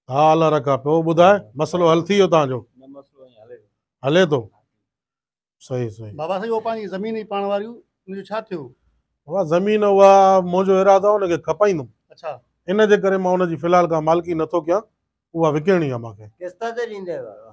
ها الله رکا پيو ٻڌاء مسئلو حل ٿي ويو تنهن جو نه مسئلو ائين هلي هلي ٿو صحيح صحيح بابا سائين اهو پنهنجي زمين هئي پاڻ واري ان جو ڇا ٿيو بابا زمين اها منهنجو ارادو ان کي کپائيندم اڇا ان جي ڪري مان ان جي في الحال ڪا مالڪي نٿو ڪيان اها وڪڻڻي آهي مانکي قسط تي ڏيندي بابا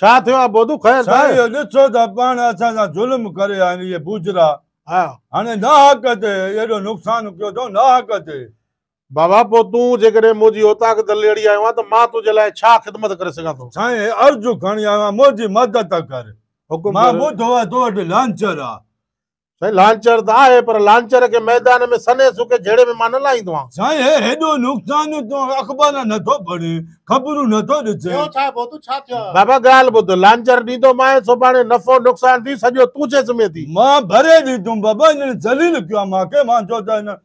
ڇا ٿيو آ بودو خير ته سائين اهو ڏسو ته پاڻ اسان سان ظلم ڪري آهن اهي بوجرا ها هاڻي ناحق تي ايڏو نقصان ڪيو اٿئون ناحق تي. بابا پوء تون جيڪڏهن منهنجي اوطاق دليڙي آيو آهين ته مان تنهنجي لاء ڇا خدمت ڪري سگهان ٿو. سائين هي عرض کڻي آيو آهيان منهنجي مدد ڪر حڪم مان ڪر. ٻڌو آهي تو وٽ لانچر آ سائين لانچر ته آهي پر لانچر کي ميدان ۾ سنهي سڪي جهيڙي ۾ مان نه لاهيندو آهيان. سائين هي هيڏو نقصان تون اخبار نٿو پڙهين خبرون نٿو ڏسين. ٻيو ڇا ڀوتو ڇا ٿيو آهي. بابا ڳالهه ٻڌ لانچر ڏيندو مانء سڀاڻي نفعو نقصان ٿي سڄو تون ڇي ذمي ٿي. مان ڀري ڏيندم بابا هنن ذليل ڪيو آهي مان کي مان چو ته هنن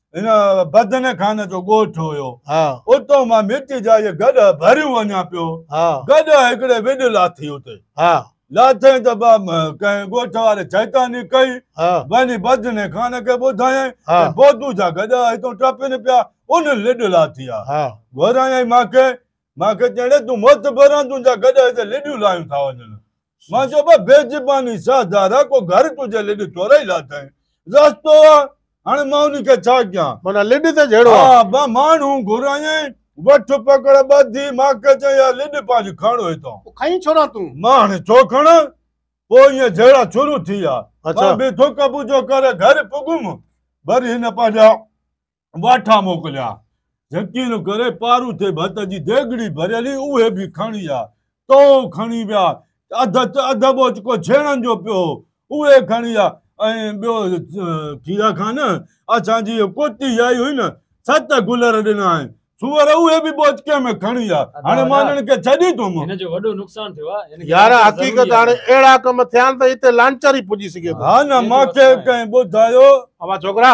هن بدن خان جو ڳوٺ هيو. اتو مان مٽي جا اهي گڏهه ڀريون وڃان پيو. گڏهه هڪڙي وڍ لاٿي اتي. لاٿيائين ته ڪنهن ڳوٺ واري شيطاني ڪئي. وڃي بدن خان کي ٻڌايائين ته بودو جا گڏهه هتو ٽپن پيا، انهن لڏ لاٿي آ. گهرايائين مانکي. مانکي چيائين، اڙي تون موتبران تنهنجا گڏهه هتي لڏيون لايون ٿا وڃن. مان چيو بابا بي زباني ساهه ڌارا ڪو گهر تنهنجي لڏ ٿورئي لاٿائين. رستو آ هاڻي مان انهي کي ڇا ڪيان. معنيٰ لڏ ته جهڙو آ. ها مان ماڻهو گهرايائين وٺ پڪڙ ٻڌي ماکي چيائين اها لڏ پنهنجي کڻ هتان. پوء کڻين ڇو نه تون. مان هاڻي ڇو کڻان پوء ايئن جهيڙا شروع ٿي ويا. مان به ٿڪ ٻوجهو ڪري گهر پڳم وري هن پنهنجا. واٺا موڪليا. جھڪيل ڪري پاروٿي ڀت جي ديڳڙي ڀريل ھئي، اھي به کڻي ويا. تئو کڻي ويا. اڌ اڌ ٻوچڪو ڇيڻن جو پيو ھو، اھي کڻي ويا ۽ ٻيو کيرا خان اسان جي ڪوٽي آئي ھئي نه، ست گلر ڏنائين. سوئر اھي به ٻوچڪي ۾ کڻي ويا. ھاڻي مان ھنن کي ڇڏي ٿو مون. يار حقيقت ھاڻي اھڙا ڪم ٿيا آھن ته اتي لانچر ئي پڄي سگھي ٿو. ھا نه مانکي ڪنھن ٻڌايو. اوھان ڇوڪرا!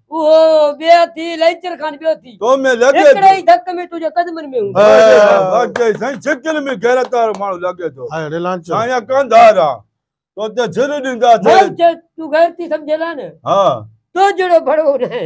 اهو ٻيء ٿي لئنچر کان ٻيو ٿي تو ۾ لڳي هڪڙي ئي ڌڪ ۾ تنهنجو قدمن ۾ هوندو واقعي سائين شڪل ۾ غيرت وارو ماڻهو لڳي ٿو هاي ريلانچ سائين ڪنڌار آ تو ته جھر ڏيندا ٿي مون چيو تون غيرتي سمجهيل آ نه ها تو جهڙو ڀڙو ناهي